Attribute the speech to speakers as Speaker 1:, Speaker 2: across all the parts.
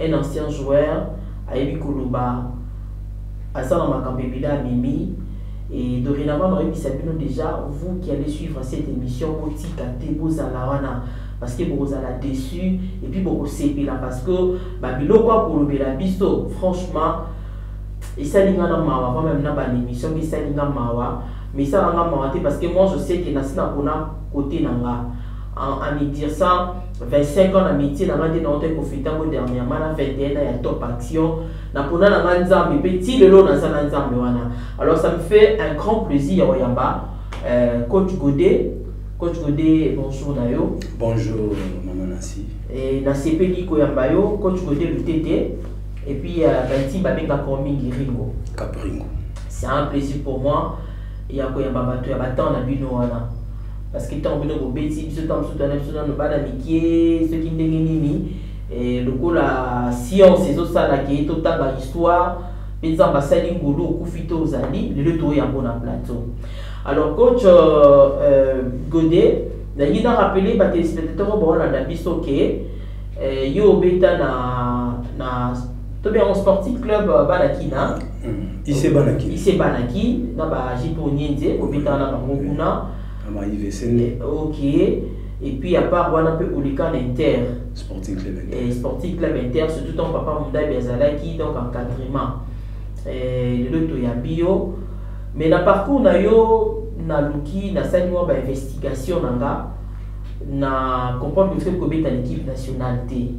Speaker 1: Un ancien joueur ayebi koloba aza na makambo ebele amemi et dorénavant naoyebisa bino déjà vous qui allez suivre cette émission botika te bozala wana parce que bokozala déçu et puis bokosepela parce que babiloko akolobela biso franchement esali nga na mawa va meme na banémission mpe esali nga mawa mais esala nga mawa te parce que moi je sais que nasi nakona kote na nga en, en me dire ça 25 ans na metier na nga nde na ote profite yango dernièrement na 21 ans ya top action na pona na nga nzambe mpe ti lelo naza na nzambe wana alors ça me fait un grand plaisir ya koyamba euh, coach godet coach godet bonjour na yo bonjour
Speaker 2: mama nasi e, nasepeli
Speaker 1: koyamba yo coach godet lutete et puis euh, banti babengaka yo mingi ringo capringo c'est
Speaker 2: un plaisir pour moi
Speaker 1: ya koyamba bato ya batemp na bino wana parce que ntango bino bobeti biso ntango mosusu twana biso nano bana mikie soki ndenge nini eh, lokola science ezosala ke totanga histoire mpe nzambe asali ngolu okufi to ozali lelo toyo yango na plateau alors coach euh, euh, gode nalingi na rappele batelespectateur oyo baolanda biso ke eh, yo obeta na, na tobe yango sportif club euh, banaki na hmm. ise
Speaker 2: banaki ise banaki
Speaker 1: na bajipo nyenze kobetana na bango kuna eh, ok et puis à part wana mpe oleka na inter sporting club inter,
Speaker 2: eh, sporting club inter
Speaker 1: surtout ntango papa mondabi azalaki donc encadrement eh, lelo toyambi yo mais na parcours na yo naluki nasali mwa bainvestigation na nga na comprendre que kobeta l'équipe nationale te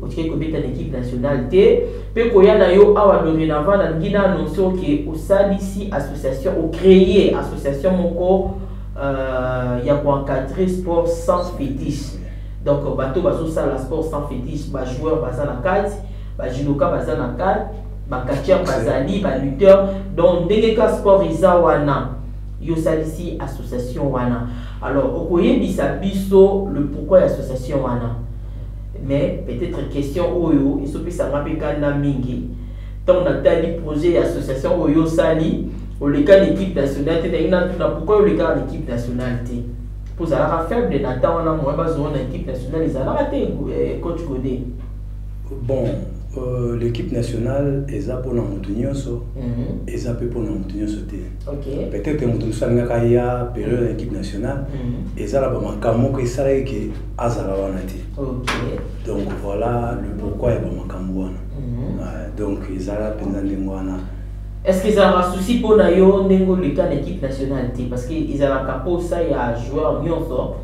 Speaker 1: Otikaki kobeta na equipe nationale te pe koya na yo awa dorenavant na lingi na annonce oke osalisi association o cree association moko euh, ya ko encadrer sport sans fetiche donc bato bazosala sport sans fetiche ba joueur baza na kati ba judoka baza na kati bakatier bazali balutteur donc ndenge ka sport eza wana yo osalisi association wana alors okoyebisa biso le pourquoi ya association wana Mais peut etre question oyo ezo pesa nga pe kanda mingi tango na tali projet ya association oyo yo osali oleka na equipe nationale te nalingi na tuna pourquoi yo olekaka na equipe nationale te po ozalaka faible na temps wana moyen bazua na equipe nationale ezalaka te eh, coach gode bon
Speaker 2: Euh, l'équipe nationale eza mpona moto nyonso mhm. eza mpe mpona moto nyonso te peut-être moto mosusu alingaka ya période ya équipe nationale mhm. eza na bamakambo moko esalaki ke azala wana te donc voilà le pourquoi ya bamakambo wana mhm. euh, donc ezala mpenza ndenge wana est ce que ezalaka
Speaker 1: souci mpo na yo ndenge oleka na équipe nationale te parce que ezalaka mposa ya joueur nyonso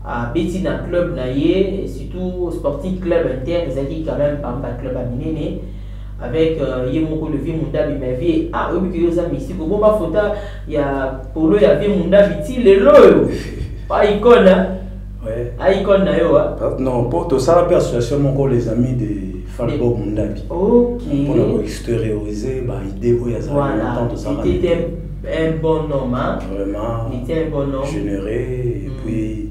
Speaker 1: abeti na club na ye surtout sporting club inter ezalaki quand même pamba club ya minene avec euh, ye moko levi mundabi mavie ah oyebi ke yo oza mystique obomba fota ya polo ya vie mundabi ti lelo oyo pa icone ouais. a
Speaker 2: icone na yo
Speaker 1: ah, non mpo tosala
Speaker 2: mpe association moko les amis de falbo mundabi okay. mpona
Speaker 1: koexterioriser
Speaker 2: baidée oyo azalaki voilà. temps tosala
Speaker 1: un bon homme. Hein? Vraiment. Il était un
Speaker 2: bon homme.
Speaker 1: Généreux. Et mm.
Speaker 2: puis,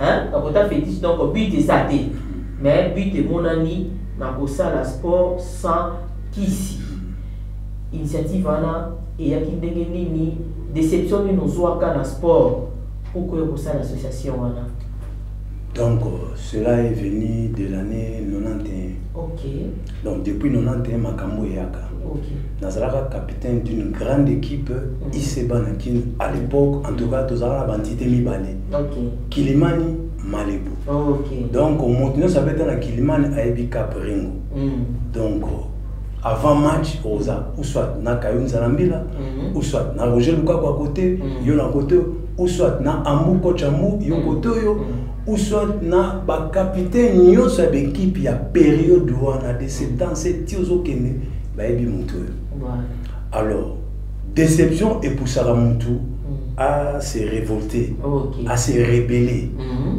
Speaker 1: hein kakota fetiche donc but eza te mais but emonani na kosala sport sans kisi initiative wana eyaki ndenge nini déception nini ozwaka na sport mpo oya kosala association wana donc
Speaker 2: cela est venu de l'année 91 ok
Speaker 1: donc depuis
Speaker 2: 91 makambo eyaka okay. nazalaka
Speaker 1: capitaine
Speaker 2: d'une grande équipe mm. iseba na kin à l'époque en tout cas tozalaka na bantite mibale Okay. Kilimani Malibu. Okay. Donc
Speaker 1: moto nyonso
Speaker 2: abeta na Kilimani ayebi Cap Ringo. Mm. Donc avant match oza ou soit na Kayuni Zalambila mm. ou soit na Roger Lukaku à côté, mm. yo na côté ou soit na Ambu coach Ambu yo mm. côté yo. Mm. ou soit na bacapitaine nyonso ya baekipe ya periode wana de septembre se ti ozokende bayebi moto oyo alors Déception epusaka mutu à mm. se révolter, okay. à se rebeller. Mm -hmm.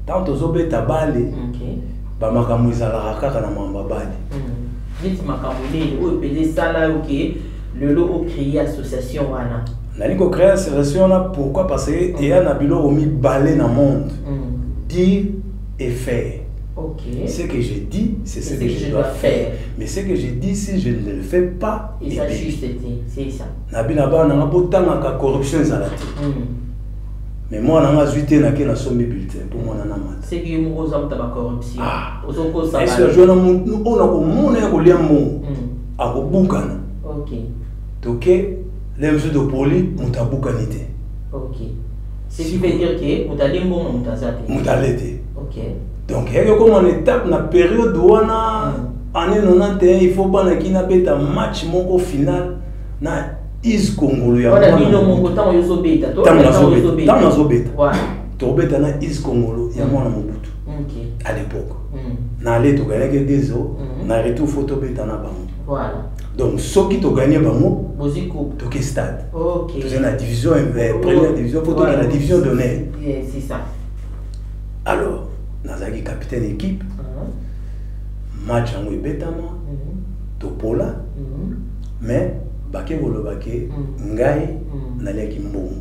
Speaker 2: Tant tozobeta bale, okay. bamakambo ezalaka kaka na mamba bale. Mm. Neti
Speaker 1: makambo nini oyo mpeza esala yo ke lelo ocreye association wana? Nali kocreye
Speaker 2: association wana pourquoi parce que mm. eya na biloko mibale na monde mm. dire et faire. Okay. Ce
Speaker 1: que je
Speaker 2: dis, c'est ce, ce que, que je dois faire. faire. Mais ce que je dis, si je ne le fais pas, eza juste te
Speaker 1: c'est ça na bina bana nanga
Speaker 2: botangaka corruption ezala te hmm. mais mwana nanga azwi te nake nasombi bulletin mpo mwana na mata seki ye moko oza motaba
Speaker 1: corruption ah. ozokosaesi azwa na motu oyo
Speaker 2: nakomona ya kolia mbongo hmm. akobukana
Speaker 1: toke
Speaker 2: le mosusu topoli moto abukani te
Speaker 1: moto ale te donc eyaki okoma
Speaker 2: na étape na periode wana année 91 il faut bana kina beta match moko final na is kongolo ya
Speaker 1: ntango
Speaker 2: nazobeta tokobeta na is kongolo ya mm. mwana mobutu à
Speaker 1: l'époque
Speaker 2: mm. na ale togagnaki dezo mm. na retour fo tobeta na bango donc
Speaker 1: soki
Speaker 2: togagne bango toke
Speaker 1: stade
Speaker 2: toza na
Speaker 1: division
Speaker 2: eh, première division po toke na division d'honneur alors nazalaki capitaine équipe ah. match yango ebetama mhm. topola mhm. mais bake koloba ke mhm. ngai naliaki mbongo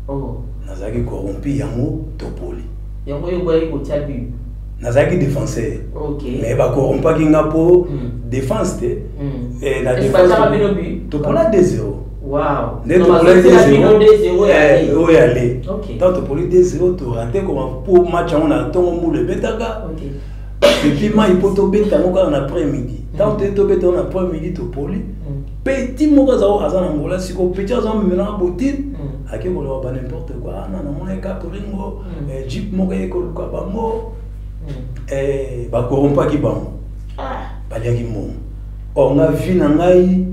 Speaker 2: oh.
Speaker 1: nazalaki
Speaker 2: corrompi yango topoli yango yo boyaki
Speaker 1: kotya but nazalaki
Speaker 2: défenseur mais
Speaker 1: bakorompaki
Speaker 2: nga mpo défense te eh, na
Speaker 1: défense topola
Speaker 2: 2 0 nde
Speaker 1: topolaki 2-0
Speaker 2: eh, oyo ya le
Speaker 1: ntango
Speaker 2: topoli
Speaker 1: 2-0
Speaker 2: torate koma mpo match yango na ntongo mbula ebetaka
Speaker 1: epuis mai
Speaker 2: mpo tobeta yango kaka na après midi ntango mm. toye tobeta yango na après midi topoli mm. petit moko azao aza na ngola sikoyo petit aza memelaka botine mm. ake koloba ba n'importe quoi ana ah, namonaki kaka ringo eh, jip moko eye koluka bango eh, bakorompaki bango ah. baliaki mbongo or nga vi na ngai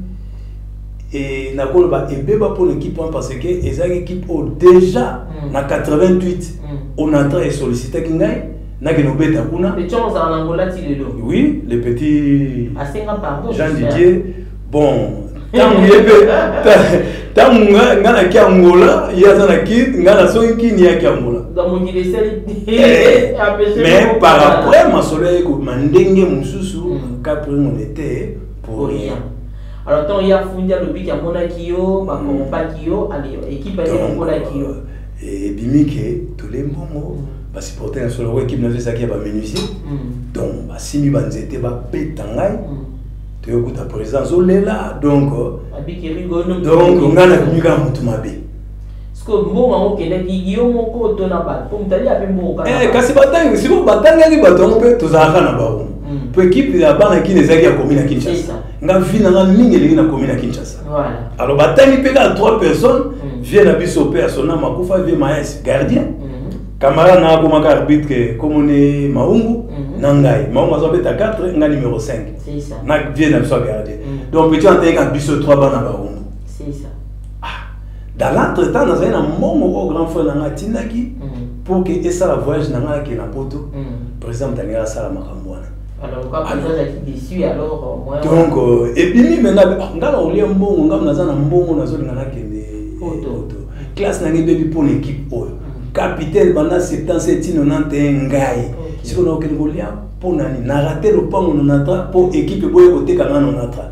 Speaker 2: et nakoloba ebeba mpo na équipe wana parce que ezalaki équipe oyo déjà mm. na 88 mm. onatra esollicitaki ngai nakende obeta kuna oui le petit jean didier bon ntango ye mpe ntango ngai naki angola ye aza na kine ngai nazongi kine yaki angola eh, mais par après masolo yayekobima ndenge mosusu mm. capre monete pour rien Alors ton ya
Speaker 1: fundi alobi ki amonaki yo ba corrompaki yo ale équipe ale lokolaki yo. Et bimike
Speaker 2: tous les moments ba supporter na solo équipe na visa ki ba menuisier. Mm. Donc ba simi ba nzete ba peta ngai. Mm. Toyokuta présence olela donc. Abiki rigo no. Donc ngana kumika mutu mabe.
Speaker 1: Eh, kasi batangi sikoyo
Speaker 2: batangaki bato yango mpe tozalaka na bango mm. mpo ekipe ya bana kini ezalaki ya komi na kinshasa nga vi na nga mingi elingi na komi na kinshasa alors batangi mpe kaka trois personnes mm. vie na biso mpe ya sona makufa vie maes gardien mm-hmm. camarade na akomaka arbitre komone maungu mm-hmm. na ngai maungu azobeta 4 nga numero 5 na vie
Speaker 1: na biso ya
Speaker 2: gardien mm. donc petit antayeka biso trois bana baungu
Speaker 1: Ah, dans
Speaker 2: l'entretemps nazali na mbongo oyo grand frère na ngai atindaki mm. pour ke esala voyage na ngai akenda poto mm. président motalinga asala makambo wana
Speaker 1: donc euh, ebimi
Speaker 2: mena ah, nga na olia mbongo nga naza na mbongo nazolinga nakende poto classe na ngai ebebi mpo na équipe oyo mm. capitaine banda 77 tino 91 ngai sikoyo nakokende kolia mpo nani na rate lopango nonatra mpo équipe eboye koteka nga nonatra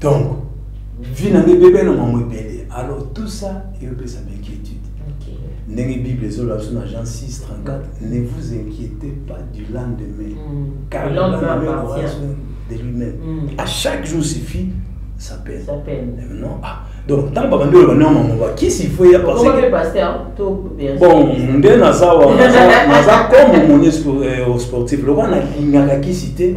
Speaker 2: donc vie na ngai bebe na mwango ebele alors tout ça eyopesa bainquiétude ndenge bible ezoloba biso na jean 6 34 ne vous inquiétez pas du lendemain mm. car le lendemain aura soin de lui-même mm. à chaque jour suffit sa peine non ah donc ntango babandi oloba nao mama bakisi fo ya bon nde naza wa naza comme moni sportif lokola nalingaka kisi te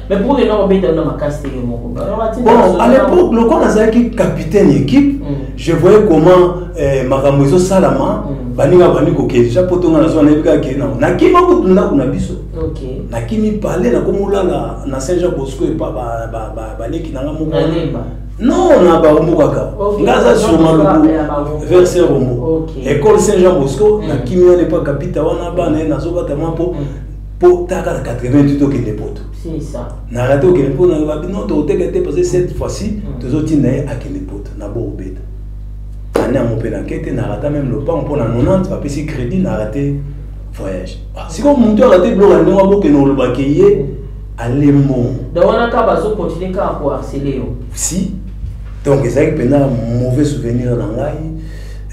Speaker 1: Mais pour les gens, ils ont cassé
Speaker 2: les mots. Bon, à l'époque, le quand nazalaki capitaine équipe, mm. je voyais comment eh, makambo ezo salama mm. baninga bandi kokende ja poto nga nazwa nayebi kaka kende nango nakima kutu ndako na biso nakimi
Speaker 1: pale
Speaker 2: nakomi olala na saint jean bosco epa baleki nanga moko non na barombo kaka nga aza sur maluku vers saint rombo école saint jean bosco mm. nakimi wana epa kapita wana bana ye nazobata mwa mpo po taka na 88 tokende poto na
Speaker 1: rate okende poto na
Speaker 2: babi non tokoteka te parce que cette fois ci mm. tozotinda ye akende poto na bo obeta ane yango mpe na kete na rata meme lopango mpo na 90 bapesi crédit na rate voyage ah, sikoyo motu arate biloko ya ndenge abokende olobake ye alembo
Speaker 1: si
Speaker 2: donc ezalaki mpenza mauvais souvenir na ngai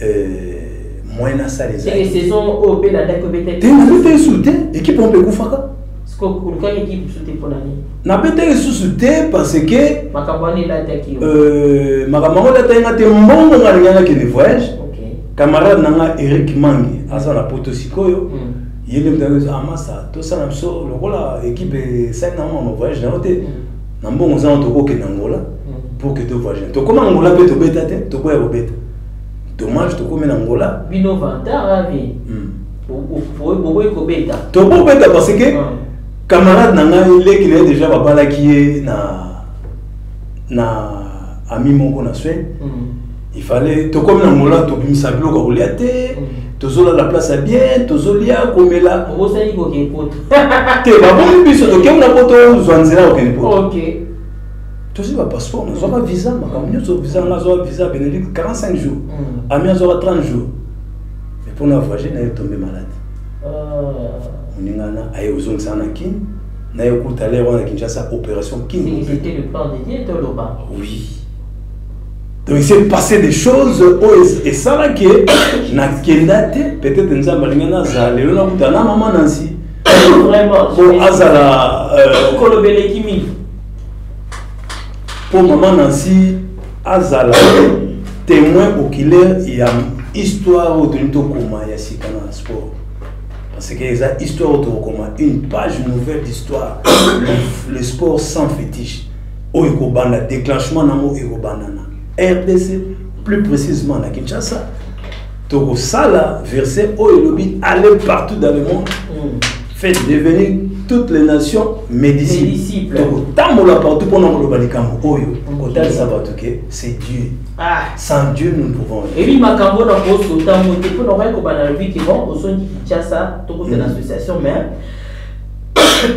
Speaker 2: euh, moyen na sala eza te saison
Speaker 1: oyo pe na dako bete te na bete sous te
Speaker 2: équipe on peut kufaka siko kuluka
Speaker 1: équipe sous te pona ni na bete sous
Speaker 2: te parce que makabani la ta ki
Speaker 1: euh makambo
Speaker 2: la ta ngate mbongo ngana ngana ke de voyage camarade
Speaker 1: nanga
Speaker 2: Eric Mangi aza na poto sikoyo hmm. ye nde moto ayoki ah masa tosala biso lokola équipe esali na mama voyage na yo te hmm. na mbongo oza na tokokende angola hmm. pour que to voyage tokoma angola mpe tobeta te tokoya kobeta dommage tokomi na ngola bino vantard avi
Speaker 1: bokoki kobeta tokobeta parce
Speaker 2: que ah. camarade na ngai leki na ye déjà babalaki ye na na ami moko na swede hmm. il fallait tokomi na ngola tobimisa biloko ya kolia te hmm. tozolala place ya bien tozolia komela obosani kokende
Speaker 1: poto te babomi
Speaker 2: biso tokemi na poto ozwa nzela okende poto
Speaker 1: tozwi
Speaker 2: ba passeport nazwaka visa makambo nyonso visa nga azwaka visa benedict 45 jours mm. ami azwaka 30 jours mais mpo na voyage naye tombe malade ah. moninga na aye ozongisa na kin naye okuta lere wana kinshasa opération kin
Speaker 1: oui
Speaker 2: donc il s'est passé des choses oyo esalaki nakenda te peut-être nzambe alingi nazala lelo nakuta na mama nansi vraiment
Speaker 1: azala
Speaker 2: euh, kolobeleki
Speaker 1: mingi
Speaker 2: mpo mama nansi azala témoin oculaire ya histoire oyo tolingi tokoma ya sika na sport parce que eza histoire oyo tokokoma une page nouvelle d'histoire le, le sport sans fétiche oyo ekobanda déclenchement nango ekobanda na rdc plus précisément na kinshasa Tokosala verset oyo elobi aller partout dans le monde. Mm. Faites devenir toutes les nations mes disciples. Tokotambola partout mpo na koloba likambo oyo kotalisa bato ke c'est Dieu. Ah. Sans Dieu nous ne pouvons rien. Ebi makambo na
Speaker 1: poso ntango te mpo na okoki kobanda lobi ke bon osongi Kinshasa tokozela mm. association mais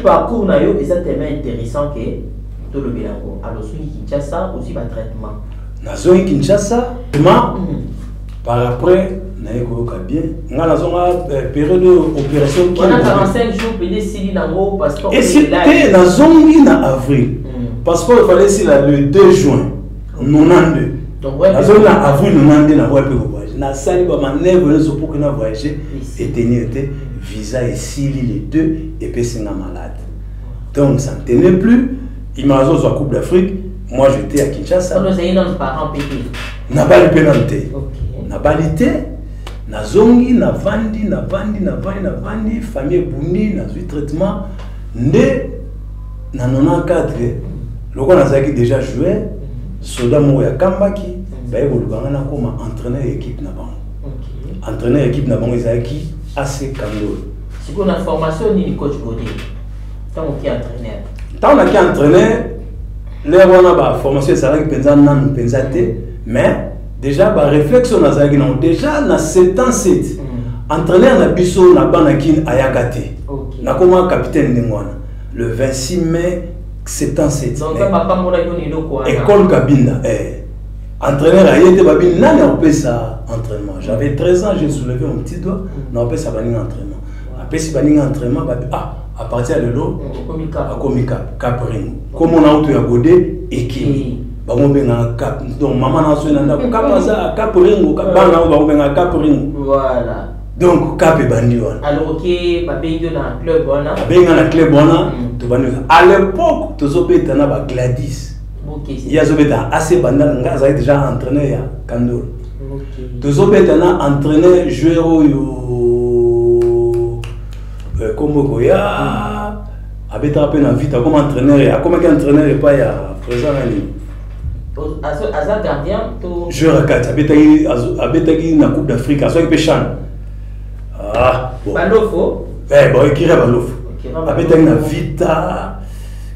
Speaker 1: parcours na yo eza tellement intéressant ke tolobela yango alors soki kinshasa ozwi batraitement nazongi
Speaker 2: kinshasa ma mm. par après naye koyoka bien nga nazonga eh, periode oyo opération
Speaker 1: te
Speaker 2: nazongi na avril hmm. passeport efale esila le 2 juin 92 nazongi na avril 92 na voya mpe kovoyage nasali bamanevre nyonso mpo kena voyage etenir te visa esili le 2 epesi nga malade donc ça ne tenait plus il m'a coupe d'afrique moi j'étais à kinshasa
Speaker 1: nabali mpe nanu
Speaker 2: te nabali te nazongi navandi navandi navandi navandi famille ebundi nazwi traitement nde na 94 lokola nazalaki déjà joueur soda moko ya kambaki baye koluka ngai nakoma entraîneur ya équipe na bango entraîneur ya équipe na bango ezalaki ac kandolo sikoyo na
Speaker 1: formation nini coach gode ntango ki entraîneur ntango naki entraîneur
Speaker 2: L'heure wana ba formation ezalaki mpenza nanu mpenza te mais déjà ba réflexe oyo nazalaki nango déjà na 7 ans 7 mm. entraîneur na biso na bana kin ayaka te okay. nakoma capitaine ndenge wana le 26 mai 7 ans
Speaker 1: 7 école kabinda
Speaker 2: eh. entraîneur aye te babi nani akopesa entraînement j'avais 13 ans j'ai soulevé mon petit doigt mm. nakopesa baninga entraînement apesi baninga entraînement babi ah à partir ya lelo akomi caprin komona auto ya gode ekimi mm. bango bengaka cap donc mama na azwi na ndako cap aza cap ringo bana yango bango bengaka cap ringo voilà
Speaker 1: donc cap
Speaker 2: ebandi wana alors ke babengi
Speaker 1: yo na club wana abengi nga na club wana
Speaker 2: mm. tobandi à l'époque tozobeta na ba gladis ye azobeta
Speaker 1: ac
Speaker 2: bandana ngai azali déjà entraîneur ya kandolo tozobeta na entraîneur joueur oyo nkombo euh, ekoya abetaka mpe na vita akoma entraîneur ya akomaki entraîneur epai ya présent na nini aza gardien to
Speaker 1: joueur akati abetaki
Speaker 2: abetaki na coupe d'afrique azwaki mpe chan ah, balofo
Speaker 1: eh, bon ekira
Speaker 2: balofo abetaki na vita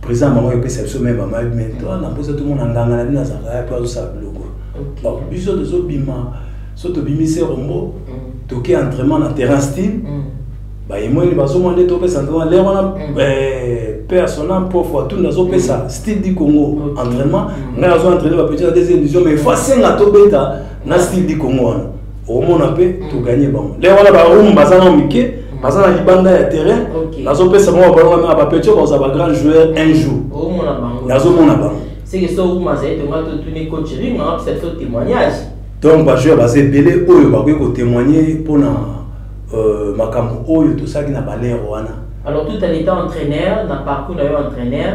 Speaker 2: Président maman yopesa biso meme maman mais toi na mposa tomona nganga na bino azalaka ya mpe azosala biloko donc biso tozobima so tobimi se rombo mm. toke entraînement na terrain style mm. bayemoni bazomona nde topesa entraînement lere wana mm. eh, père sona mpofu atuni azopesa style du congo entraînement ngai azo entraîne bapetit na deuxième division mais fo asenga tobeta na style du congo wana omona mpe mm. toganye bango lelo wana barumu baza na mike mm. baza na libanda ya terrain nazopesa bango babalonga mpe bapeti oyo bakozala bagrand joueur un jour
Speaker 1: nazomona
Speaker 2: bango
Speaker 1: donc bajoueur
Speaker 2: baza ebele oyo bakoki kotémoigne mpona euh, makambo oyo tosalaki na balere wana alors tout en étant
Speaker 1: entraîneur na parcours na yo entraîneur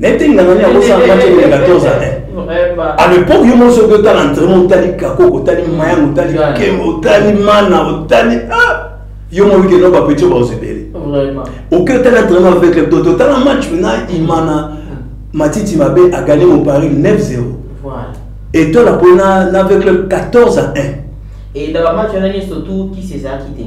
Speaker 2: naye te ngangani akosala match ya 14 ane à l'époque yo mosi oki otala entraînement otali kakoko otali mayango otali kembo otali mana otali ah! yo moki keno bapetio baosebele oki
Speaker 1: otali entraînement
Speaker 2: avec le toto otala match na imana matiti mabe agane mon paris 9 0
Speaker 1: etola
Speaker 2: mpona na avec le 14 à 1 et dans
Speaker 1: la match on a surtout qui s'est acquitté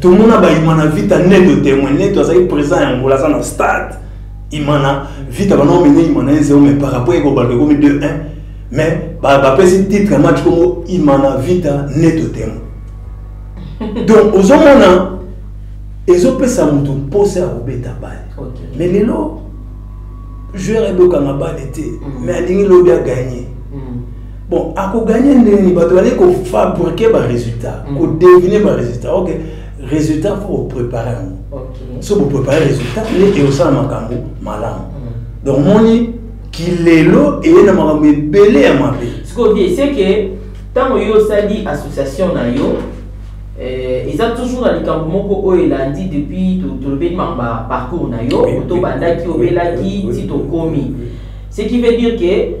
Speaker 2: tomona baimana vita neto temoin neto azali présent ya ngola aza na stade imana vita bana omene imana ye zero mais par rapport ye kobanda ekomi 2 1 mais bapesi titre ya match kongo imana vita neto temoin donc ozomona ezopesa moto mposa ya kobeta bale mais lelo joueur ebokanga bale te mais alingi lobi aganye bon akoganye ndenge bato bazali kofabrike baresultat mm. kodevine baresultat ok résultat fo boprépare yango so boprépare résultat nde ekosala makambo malamu mm. donc moni kilelo eye na makambo ebele ya mabe sikoyo vie seke
Speaker 1: ntango yo osali association na yo eh, eza toujours na likambo moko oyo elandi depuis tolobeli makambo ya parcours na yo tobandaki obelaki ti tokomi ce qui veut dire que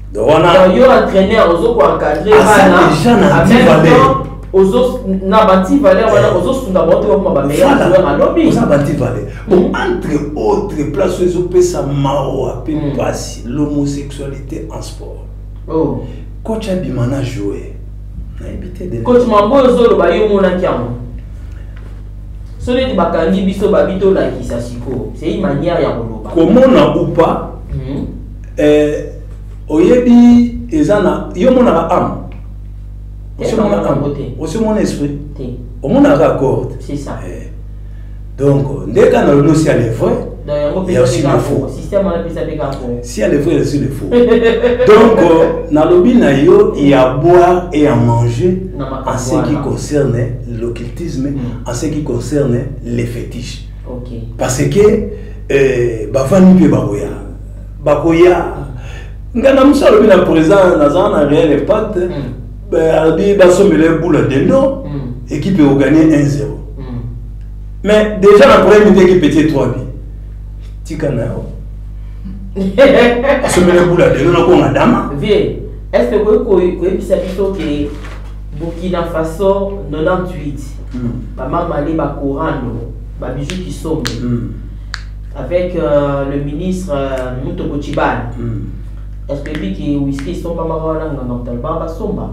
Speaker 2: donc
Speaker 1: wana donc yo entraîneur ozo ko encadrer bana déjà na anti valeur ozo na ba anti valeur wana eh. ozo sunga ba oto ba meilleur joueur à lobby oza ba anti valeur
Speaker 2: bon hmm. entre autres place oyo ezo pesa mawa pe hmm. pasi l'homosexualité en sport oh
Speaker 1: coach abima
Speaker 2: na jouer nayebi te de coach mambo ozo loba
Speaker 1: yo monaki yango so neti bakangi biso babi tolakisa sikoyo c'est une manière ya koloba komona ou pas
Speaker 2: hmm. Eh, oyebi eza na yo omonaka ame osemonaka ame osemona esprit omonaka accord eh,
Speaker 1: donc
Speaker 2: nde ka na lono si ale vrai ya aussi le faux
Speaker 1: si ale vrai aussi le
Speaker 2: faux donc nalobi na yo ya boire et ya manger en ce qui concerne l'occultisme mm. en ce qui concerne les fétiches okay. parce que eh, bavandi mpe bakoya bakoya nga na musa alobi na présent naza na réel impact hmm. alobi basombela ye bula dendo hmm. équipe ekoganye 1 0 hmm. mais déjà na premier midi équipe etie 3 bi tika na yo asombela ye bula dendo nakonga dama vie est ce
Speaker 1: que okoki koyebisa biso ke burkina faso 98 bamama nde bakorando babiju kisombe avec euh, le ministre euh, Mutoko Chibana. Mm. Est-ce que lui qui est whisky somba mawana nganga mutalba ba somba?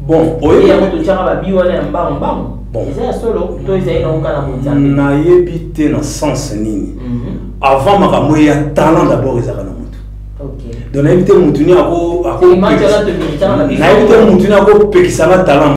Speaker 1: Bon,
Speaker 2: oye ya mutu
Speaker 1: changa ba biwa na mbango mbango. Bon. Eza ya solo to eza ina ukana bonzambe. Na yebi te
Speaker 2: na sens nini. Mm -hmm. Avant makambo ya talent d'abord ezaka na mutu. Okay. Donc na
Speaker 1: yebi te mutu
Speaker 2: ni ako ako. Na yebi te mutu ni ako pekisa na talent.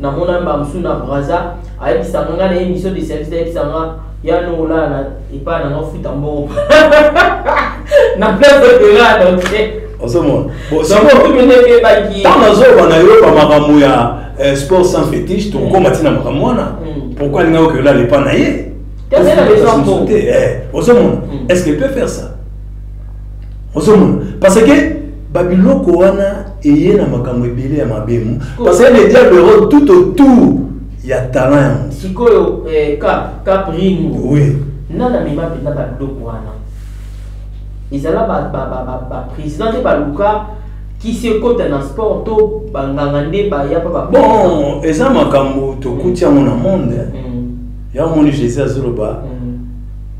Speaker 1: na mona ba musu na braza ayebisa nga na emission de service ayebisa nga ya no la na epa na nga futa mbongo na place de terrain donc ozomona ntango nazoloba na yo
Speaker 2: ba makambo ya eh, sport sans fétiche tokoma ntina makambo wana mm. pourquoi alingaki okeyola lepa na ye
Speaker 1: ozomona
Speaker 2: est ce qu'il peut faire ça ozomona parce que babiloko wana eye na makambo ebele ya mabemu parce que le diable ero tout autour ya talent ya moto sikoyo eh,
Speaker 1: cap cap ringo oui
Speaker 2: nana mema mpenza
Speaker 1: babiloko wana ezala baprésident nde baluka kisi ekota na sport to banganga nde baya mpa babon eza
Speaker 2: makambo tokuti yango na monde mm. yango moni jésus azoloba mm.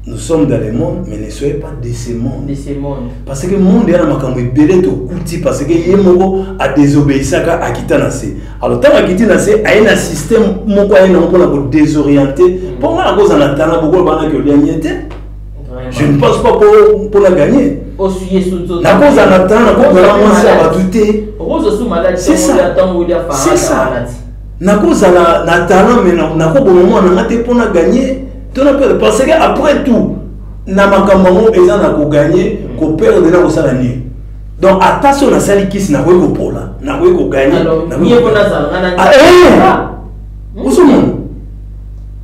Speaker 2: nous sommes dans le monde mais ne soyez pas de ce monde de ce monde parce
Speaker 1: que monde ya na
Speaker 2: makambo ebele tokuti parce que ye moko adesobeyisaka akita na se alors ntango akiti na se aye na système moko aye nango mpona kodesoriente mpo mm. ngai nakozala na tala bokola bana ke olianie te je ne pense pas mpona gagne nakozala na tala nakobala mwasi ya bato te c'est ça c'est ça nakozala na talent me nakoboma mwana nga te mpo na gagne tuna mpe parce que après tout na makambo yango eza na koganye koperdre na kosala nini donc ata so nasali kisi nakoki kopola nakoki koganye osomona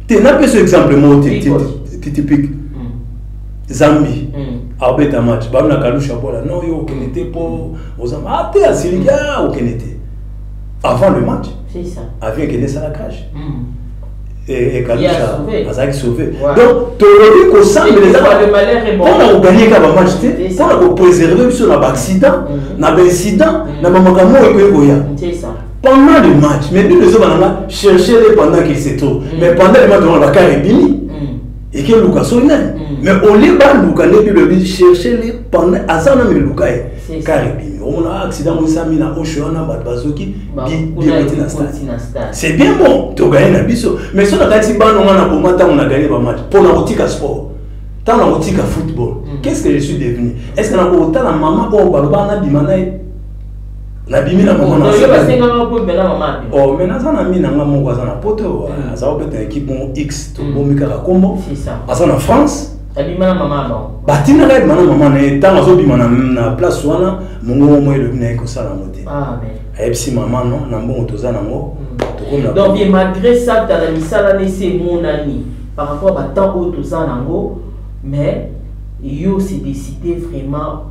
Speaker 2: te napesa exemple moko te typique hmm. zambi hmm. abeta match babi na kalusha bola non yo okende te mpo ozamba ah, te asiliki a ah, okende te avant le match avi ekende
Speaker 1: esala cage
Speaker 2: hmm. azalaki sauve donc tolobi kosambela eza mpona koganye kaka bamatch te mpona kopréserve biso na baaccident mhm. na baincident mhm. na bamakambo oyo ekoki koya pendant le match mais bible ezoba nanga cherche le pendant qu'il se trouve mhm. mais pendant le match wana bakar ebimi ekeluka so nani mais olie baluka nde bible ebi cherche le pendant aza nano eluka ye car ebimi omona ah, accident yango esami na osho wana bato bazoki direte na stade c'est bien bon toganye na biso mais so nakanisi bana nga na boma ntango na ganye bamatch mpo na kotika sport ntango na kotika football mm. qu'est ce que je suis devenu est ce que nakotala mama oyo baloba nabima na ye nabimi na mama oh, mais naza na mina nga moko aza na poto mm. aza kobeta ekipe moko x tobomi mm. kaka nkombo
Speaker 1: aza na france
Speaker 2: abima na mama
Speaker 1: na bango batindaka ye bima na mama
Speaker 2: na ye ntango azobima na place wana mongongo moko elobi na ye kosala yango te ah, ayebisi
Speaker 1: mama no na
Speaker 2: mbongo toza na yango hmm. donc bien
Speaker 1: malgré ça tala misala na esi emonani par rapport batemp oyo toza na yango mais yo se décide vraiment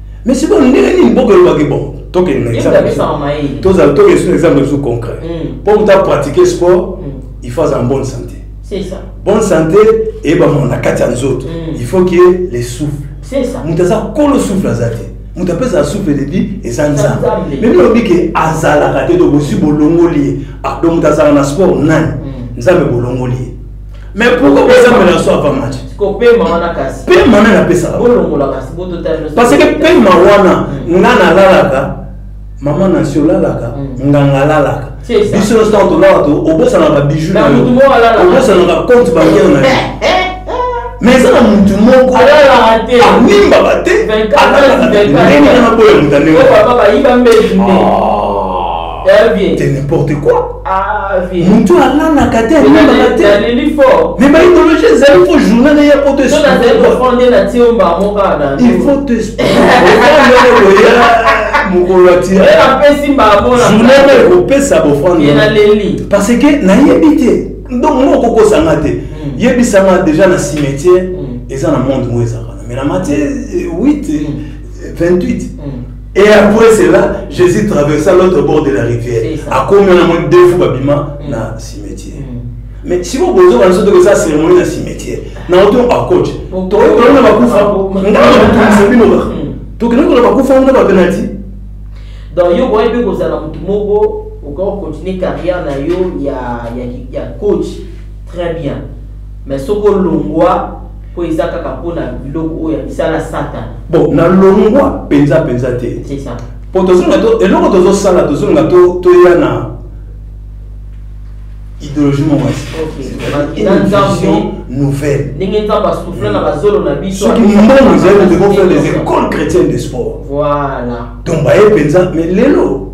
Speaker 1: mais c'est bon ndenge nini boko eloba ke bon tokende na exemple tozala tokende sur exemple biso concret mpo moto apratique sport il faut azala bonne santé C'est ça. bonne santé eyebamaka na kati ya nzoto mm. il faut que le souffle C'est ça. moto aza kolo souffle aza te moto apesaka souffle debi eza nzambe memi olobi ke azalaka te to bosi bolongoli ye ah, donc moto azalaka na sport nani mm. nzambe bolongoli ye mais pourquoi bozambela na so apa match kopema wana kasi pema nani apesaka bolongola kasi bototali parce que pema wana mm. nga nalalaka mama nasi olalaka mm. nganga alalaka biso nyonso ntango tolala obosanaka babiju na yo obosanaka compte bancaire na yo eh, eh, eh. mais eza na motu moko amimbaka te alalaka ndenge na naboya moto andenge ah. n'importe quoi motu alalaka te alelaka te mais baidologie ezali fo journal na ya poto il faut te oya mokolo atijournal na ekopesa bofrande parce que nayebi te donc ngo okokosanga te yebisanga déjà na cimetière eza na monde ngo ezalaka na mais na matie 8 28 Et après cela, Jésus traversa l'autre bord de la rivière. À combien de deux fois babima mm. na cimetière. Mm. Mais si vous posez la chose de ça, c'est vraiment un cimetière. Na auto à coach. Toi, tu as pas kufa. Nga na tout c'est bino ba. Donc nous on a pas kufa, on a pas penalty. Donc yo boye be kozala mutu moko, on continue carrière na yo ya ya coach. Très bien. mais soki olongwa mpo eza kaka mpo na biloko oyo ya misala satana bon nalongwa mpenza mpenza te mpo tozonga eloko tozosala tozonga toya na idéologie moko nouvelle ndenge nzambe asouffle na bazolo na biso soki mbongo ezali tokofaire les écoles chrétiennes de sport voilà donc baye mpenza mais lelo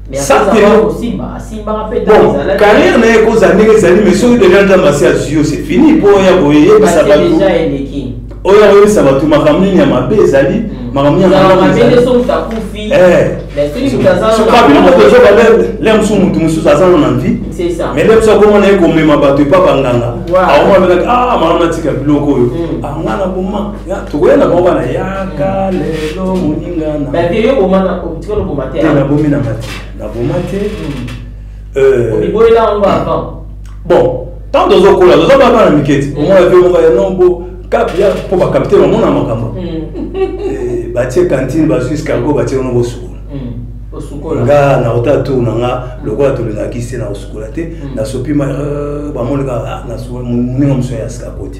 Speaker 2: carrière na ye ekozala ndenge ezali mais soki deja nzambe asi azwi yo c'est fini mpo oya koyebisa bato oyo akoyebisa bato makambo nini ya mabe ezali mm. makambo nini le mosusu motu mosusu aza no na vie mais le mosusu akomona ye komema bato epa banganga aomonaka ah makambo natika biloko oyo mm. ah, nga na boma tokoya na bango wana yaka lelo moninga nabomi na mati naboma te hmm. euh, bon ntango tozokola toza bana bana mike ti omona pe moko ya nombo kapi ya mpo bakapite bamona makambo hmm. eh, batie kantine bazwi scargo batie wana bosukola hmm. nga nauta tour na nga lokola tolingaki se na kosukola te nasopi euh, bamoneka ah, moninga mosusu ya scargo te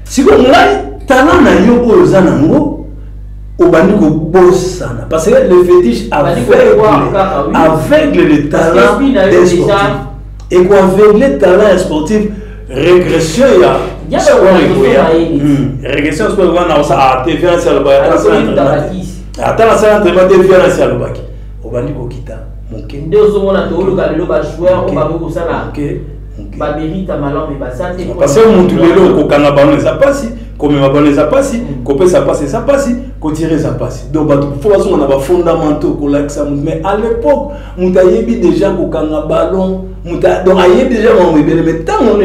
Speaker 2: siko ngai talent na yo oyo oza nango obandi kobosana parce que le fétiche aveugle aveugle le talent des sportifs et koaveugle talent ya sportif régression ya régression sport ekoya na kosala te violence alobaki ata nasala entraînement te violence alobaki obandi kokita moke nde ozomona tooluka lelo bajoueur oyo bakoki kosala bamerita malamu me baza te parce que mutu lelo kokanga bango eza mpasi komema bango eza mpasi mm. kopesa mpasi eza mpasi kotire eza mpasi donc bato fo bazonga na bafondamentaux kolakisa motu mais à l'époque moto ayebi déjà kokanga ballon moto donc ayebi déjà makambo ebele mais ntango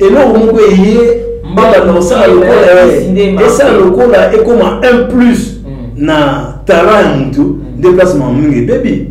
Speaker 2: eloko moko eye mbala na osala lokola esala lokola ekoma un plus mm. na talent ya motu mm. nde place mama mingi ebebi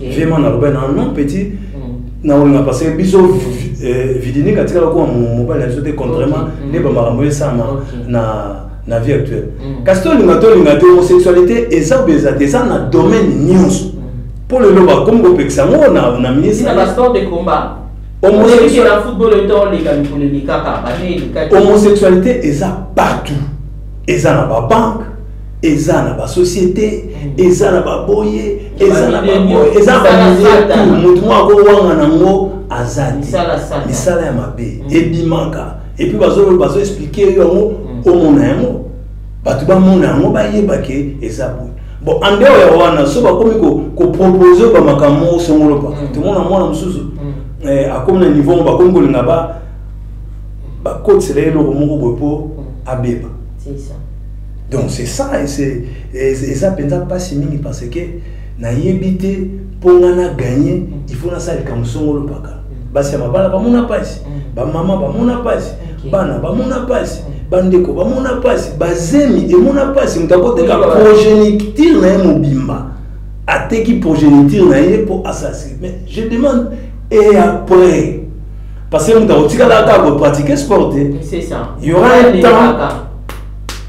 Speaker 2: vraiment naloba na non petit mm. naolinga parce que biso eh, vidinique atikala kuwa mobali na biso te contrairement mm. nde bamakambo esama na na vie actuelle mm. kasi tolinga tolinga te homosexualité eza obe eza te eza na domaine nyonso mpo lelo bakomi kopekisa yango na ministre homosexualité eza partout eza na babanke eza na basociété eza na baboye eza na baboye eza na bamilie tu motu moko akowanga nango aza te misala ya mabe mm. ebimaka epuis bazoexplike yo yango mm. omona yango bato bamona yango bayeba ke eza boye bon andeo ya wana so bakomi kopropose ko bamakambo moko songolo pa mm. tomona mwana mosusu eh, akomi na niveau bakomi kolinga ba bakotisela ye eloko moko boye mpo abeba donc c'est ça eza mpenza mpasi mingi parce que nayebi te mpo nga na gagne il faut nasala likambo songolo mpaka mm. basi ya mabala bamona mpasi mm. bamama bamona mpasi bana bamona mpasi mm. bandeko bamona mpasi bazemi emona mpasi moto akoteka progéniture na ye mobimba ateki progéniture na ye mpo asasi mais je demande et après parce que moto akotikala kaka kopratike sport te y
Speaker 1: aura un
Speaker 2: temps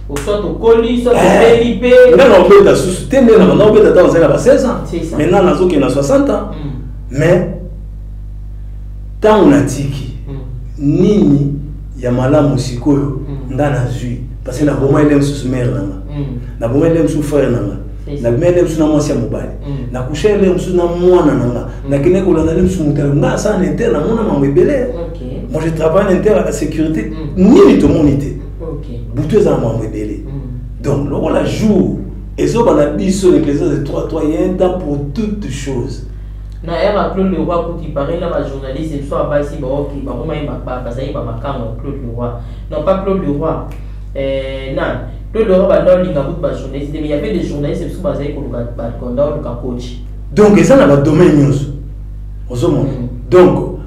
Speaker 2: oswa
Speaker 1: tokoli so tobeli eh, mpe nga naobeta susu
Speaker 2: te nde na naobeta ntango ozali na ba 16 ans maintenant nazokende na 60 ans mm. mais ntango natiki mm. nini ya malamu sikoyo mm. nga nazwi parce que naboma ele mosusu mare na nga naboma ele mosusu frère na nga nabima ele mosusu na mwasi ya mobali nakusha ele mosusu na mwana na nga nakende kolanda ele mosusu moto nga asala na intere namona mambo ebele moi je travaille na intere ya sécurité nini tomoni te butu eza na mambo ebele mm. donc lokola jour ezoba na biso l'église de 3 3 il y a un temps pour toutes choses na
Speaker 1: heure ya claude leroy kutu ipareil na bajournaliste biso ya basi baoki bakoma ye bazali bamakango ya claude leroy non pas claude leroy eh, na claude leroy banda olinga kutu bajournaliste mais yavait des journaliste biso bazali koluka bakonda oluka coach donc eza na
Speaker 2: badomaine nyonso ozomona mm. donc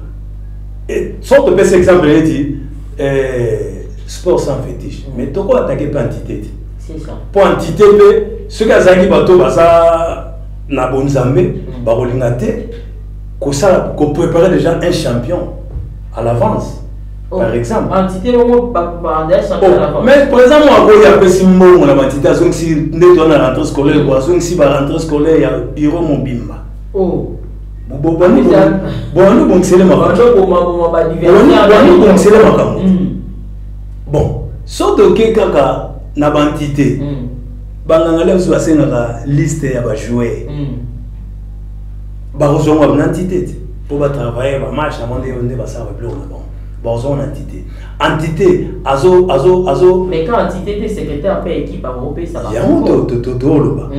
Speaker 2: eh, soki topesa exemple neti eh, sport sans fétiche mm. mais toko attaquer mpe entité te mpo
Speaker 1: entité mpe
Speaker 2: soki azalaki bato baza na bonzambe mm. bakolinga te kosala koprépare déjà un champion à l'avance oh. par exemple entité moko
Speaker 1: baandaya champion
Speaker 2: à l'avance mais par exemple akoyi apesi mbongo na baentité azongisi nde toa na rentrée scolaire ko azongisi ba rentrée scolaire ya bureau mobimba oh. bwanu bongisele makambo hmm. bon so toke kaka na bantite hmm. banganga leo biso basengaka liste ya bajoueur hmm. bakozonga na ntite te mpo batravaille bamarche yango nde nde basala babiloko na bango bakozonga na ntite entité azo azo azo mais quand
Speaker 1: entité te secrétaire mpe équipe akopesa yango totoloba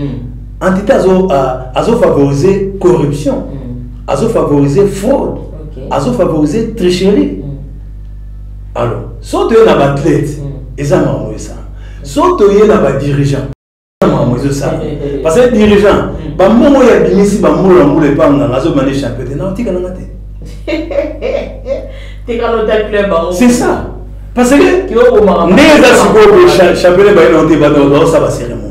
Speaker 2: entité azo uh, azo favoriser corruption mm. azo favoriser fraude okay. azo favoriser tricherie mm. alors so toye na baathlète mm. eza makambo esala so toye na badirigeant makambo ezosala eh, eh, eh, parce que dirigeant mm. bambongo oyo abimisi bambula na mbula epa nganga azobima nde champion te naotika nanga te
Speaker 1: c'est ça
Speaker 2: parce que nde eza sikoyo champion ebaye nao te bato baosala baseremo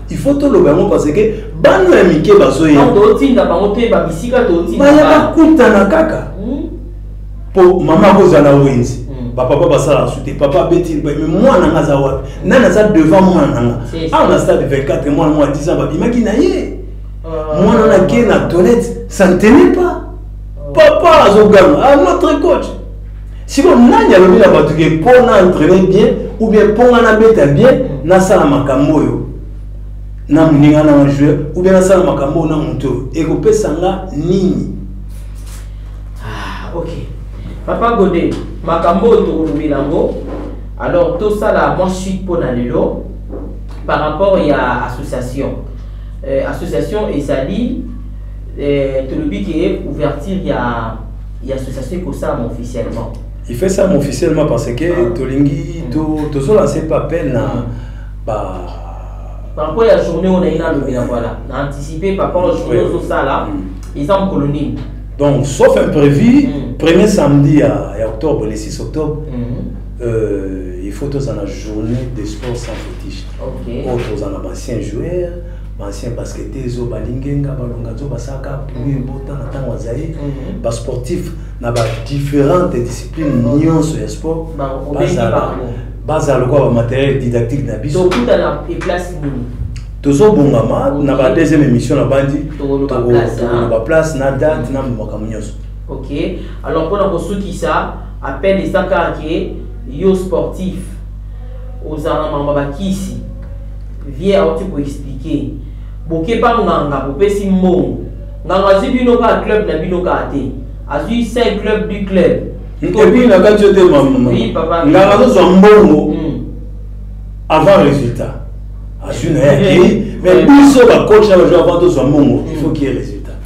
Speaker 1: il faut toloba yango
Speaker 2: parce que bana ya mike bazoyebaotinda bango
Speaker 1: te babisika tobaya bakutana
Speaker 2: kaka mpo hmm? mama akozala wenzi hmm. bapapa basala su te papa abeti me mwana nga aza wapi nani aza devant mwana na nga awa na stade 24 mwana mwa 10 ans babimaki na ye ah. mwana na ke na toilette ça ne tenait pas ah. papa azoganga ah, notre coach siko nani alobi na bato ke mpo na entraine bien ou bien mpo nga nabeta bien nasala makambo oyo na moninga na nga joueur ou bien nasala makambo oyo na moto oyo ekopesa nga nini
Speaker 1: ah, ok papa gode makambo oyo tokolobela yango alors tosala mwa suite mpo na lelo par rapport ya association euh, association ezali euh, tolobi ke ouverture ya ya association ekosalama officiellement il fait ça
Speaker 2: officiellement parce que ah. tolingi mm. tozolanse mpe appel na mm. ba par
Speaker 1: rapport ya journée oyo naye nalobela voilà na anticipe par rapport journée ozosala mm. eza mokolo nini donc sauf
Speaker 2: imprévu premier samedi ya, ya octobre le 6 octobre euh, il faut tozala na journée de sport sans fétiche okay. oyo tozala
Speaker 1: na bancien
Speaker 2: joueur ba ancien basketteurs oyo balingenga balonga nzo basaka pluie ebota na ntango ya zaire mhm. basportif na badifférente discipline nyonso ya sport bazala lokola bamateriel didactique na biso
Speaker 1: tozobongama
Speaker 2: na ba deuxième émission na bandi tokoloba place na date na makambo nyonso ok
Speaker 1: alors mpona kosukisa appel eza kaka ke yo sportif ozala na mambo bakisi Vieux auti ko expliquer. Boke pa nganga bopesi mbongo. Nganga azwi bino ka club na bino ka te. Azwi 5 club du club. Epuis na
Speaker 2: kati yo te mama. Nganga azozwa
Speaker 1: mbongo
Speaker 2: hmm. avant résultat. Azwi na ye mais biso ba coach na ba joueur avant tozwa mbongo il faut qu'il y ait résultat.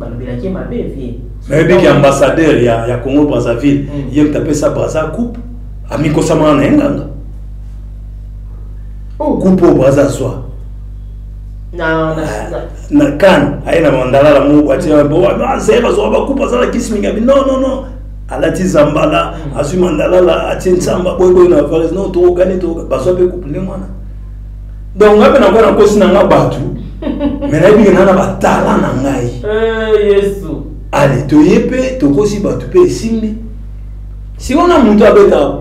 Speaker 2: balobelaki ye mabe vie nayebi ki ambassadeur ya, ya congo brazzaville mm. ye moto apesa braza coupe amikosamana na ye nganga oh. coupe oyo braza azwa na, na, ah, na. na kane aye na mandalala moko atie bazwaka bakupe aza na kisi mingi abi non non non alati zambala mm. azwi mandalala atie nsamba boyeboye na vares non tokokani bazwa mpe coupe nde mwana donc ngai mpe nakoya na nkosi na ngai bato me nayebi ke naa na batala na ngai eh, yesu
Speaker 1: ale toye
Speaker 2: mpe tokosi bato mpe esimbi sikoyo na moto abeta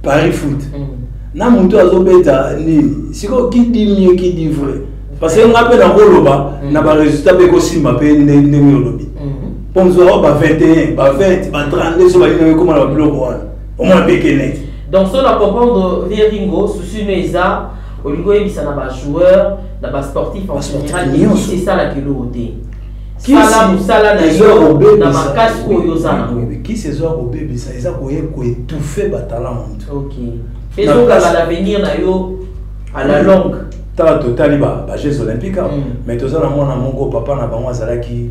Speaker 2: paris foot mm. na moto azobeta nini sikoyo kidi mie kidi vrai parce que ngai mpe nakoloba mm. na baresultat mpe ekosimba mpe ndenge olobi mpo mosusu ao ba 21 ba 20 ba 32 so balingi ekoma na babiloko wana omona mpe keneki donc so na comprendre
Speaker 1: vie ringo souci no eza olingi oyebisa na bajoueur na basportif en général ekisi esalaka eloko te sala mosala na yo na makasi
Speaker 2: oyo oza nango kisi ezoya kobebisa eza koye koetufe batala moto
Speaker 1: ezokanga na avenir na yo à la longue tala totali
Speaker 2: bajeux olympique mm. mais toza na mwana moko papa na bango azalaki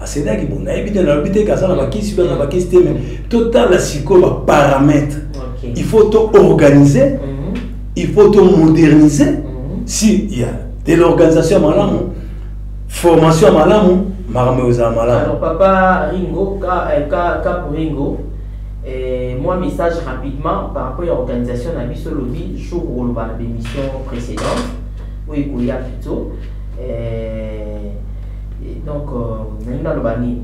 Speaker 2: asenaki bo nayebi te nalobi te ke aza na bakisi to aza na bakisi te me totala sikoyo baparametre il faut to organise mhm. il faut to modernise mhm. si ya de l'organisation ya malamu formation ya malamu makambo
Speaker 1: ezala malamu papa ringo ka, eh, ka, ka ringo eh, moi message rapidement par rapport ya organisation na biso lobi jour oloba na bémission précédente oyo ekoya plutôt eh, donc euh, nalingi naloba nini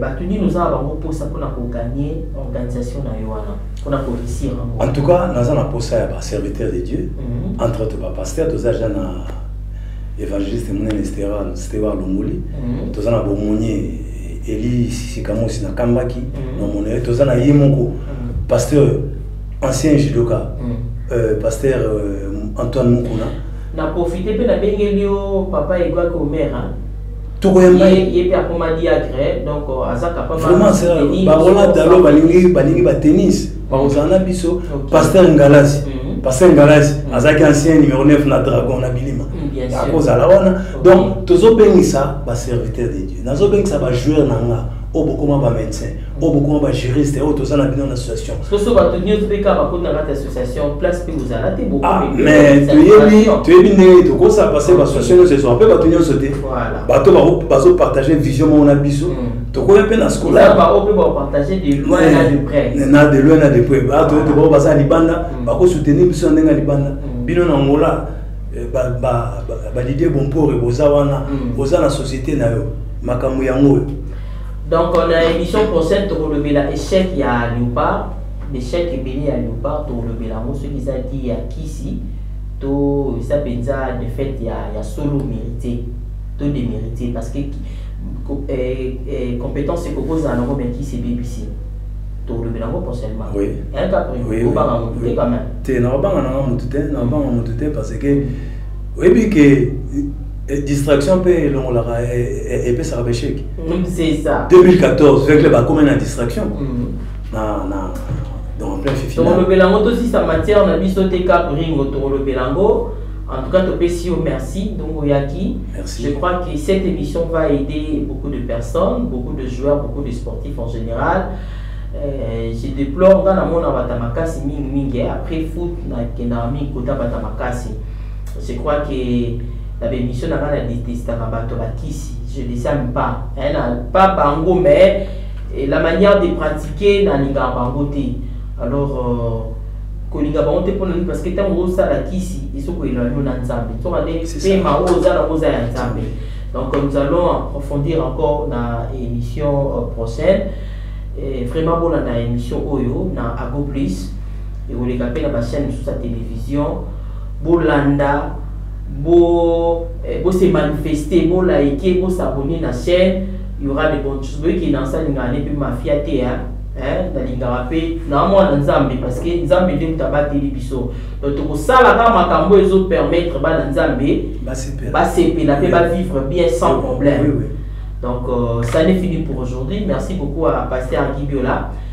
Speaker 1: bato nini oza na bango mposa mpona kogagne organisation na yo wana mpona korisir yango en tout cas naza
Speaker 2: na mposa ya baserviteur de dieu mhm. entre autres bapaster toza ja na évangéliste monene stewa longoli mhm. toza na bomonie eli sisikamosi nakambaki mhm. namona ye toza na ye moko pasteur ancien judoka euh, pasteur euh, antoine mokuna Na profite
Speaker 1: pe na bengeli yo papa Eguac Omera. Toko ya mbaye.
Speaker 2: Ye, ye pe akoma
Speaker 1: diacre, donc euh, aza capable. Vraiment c'est tennis. Ba
Speaker 2: Roland Dalo balingi balingi ba tennis. Ba ozana biso okay. pasteur Ngalasi. Mm -hmm. Pasteur Ngalasi mm -hmm. azaki ancien numéro 9 na Dragon na Bilima. Mm, bien sûr. Akozala wana. Okay. Donc tozo bengisa ba serviteurs de Dieu. Nazo bengisa ba joueurs na nga. Oyo bokoma ba médecins. oyo bokoma bagériste oyo toza na bino na association soso bato nyonso mpe
Speaker 1: kaka bakota kati association place mpe bozala te ah, mais
Speaker 2: toyebi toyebi ndenge tokosa parce que baassociation nyonso ezwa mpe bato nyonso te bato bazopartage vision moko na biso hmm. tokoya mpe na scolanade
Speaker 1: de loin na de près
Speaker 2: bato ete bao baza ya libanda hmm. bakosoutenir biso na ndenge ya libanda hmm. bino na ngola eh, balidie bompore boza wana oza na société na yo makambo yango oyo Donc
Speaker 1: na emission prochaine tokolobela échec ya Leopard, l'échec ebele ya Leopard tokolobela yango soki eza di ya kisi to eza mpenza défaite ya, ya solo mérité to démérité parce que eh, eh, compétence ekokozala nango mais kisi ebebisi tokolobela yango prochainement oui. un cas
Speaker 2: prévu
Speaker 1: obanga motu te quand même te nakobanga nanga
Speaker 2: motu te nakobanga motu te parce que oyebi ke Eh, distraction mpe elongolaka eh, eh, epesaka bechec 2014
Speaker 1: vecle
Speaker 2: bakomi na distraction mm. na na donc plein fifi tokolobela yango tosisa
Speaker 1: matière na biso te cap ringo tokolobela yango en tout cas topesi yo merci donc oyaki je crois que cette
Speaker 2: émission
Speaker 1: va aider beaucoup de personnes beaucoup de joueurs beaucoup de sportifs en général Euh, je déplore nga namona bata makasi mingi mingi après foot nakendaka mingi kota bata makasi Je crois que na ba emission na nga na detestaka bato ba kisi je les aime pas hein, na pas bango mais eh, la manière de pratiquer nalingaka bango te alors euh, kolinga bango te mpona nini parce que ntango osala kisi ezokoyela yo na nzambe nsoka nde pema oyo oza nango oza ya nzambe donc nous allons approfondir encore na émission euh, prochaine eh, vraiment bolanda émission oyo na ago plus ekoleka mpe na bachaine mosusu ya télévision bolanda bo eh, bo se manifester bo liker bo s'abonner na chaîne il y aura de bonnes choses boyeke na asalingaka ne mpe mafia te hein eh, nalingaka mpe na mwana nzambe parce que nzambe nde moto abateli biso donc tokosala kaka makambo oyo ezopermettre bana nzambe basepela mpe bavivre bien sans problème donc euh, ça ne fini pour aujourd'hui merci beaucoup à pasteur gibiola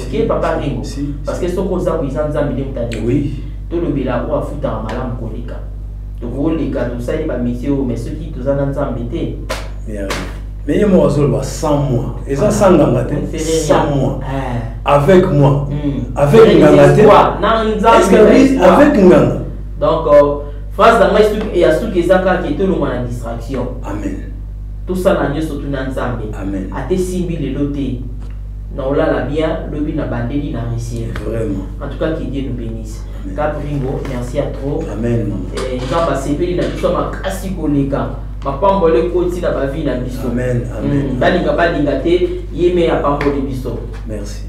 Speaker 1: oke
Speaker 2: papa ringo
Speaker 1: parce que soki oza boye eza nzambe nde moto adewi tolobela
Speaker 2: oyo
Speaker 1: afutaka malamu koleka tokoleka tosali bamesie oyo mais soki toza na nzambe te
Speaker 2: mais ye moko azoloba sans moi eza ah, sans nganga te sans moi eh. avec moi hmm. avec nganga te avec nganga donc euh,
Speaker 1: phrase na ngai ya suki eza kaka ke tolongwa na distraction amen
Speaker 2: tosala
Speaker 1: nyonso tuna nzambe ate simbi
Speaker 2: lelo
Speaker 1: te na olala bien lobi na bandeli na resier vraiment en tout cas
Speaker 2: que Dieu nous
Speaker 1: bénisse Capringo merci à trop amen eh,
Speaker 2: nzambe asepeli
Speaker 1: na biso makasi koleka mapamboli ekoti na bavi na biso hmm,
Speaker 2: balinga
Speaker 1: balinga te ye me apamboli biso merci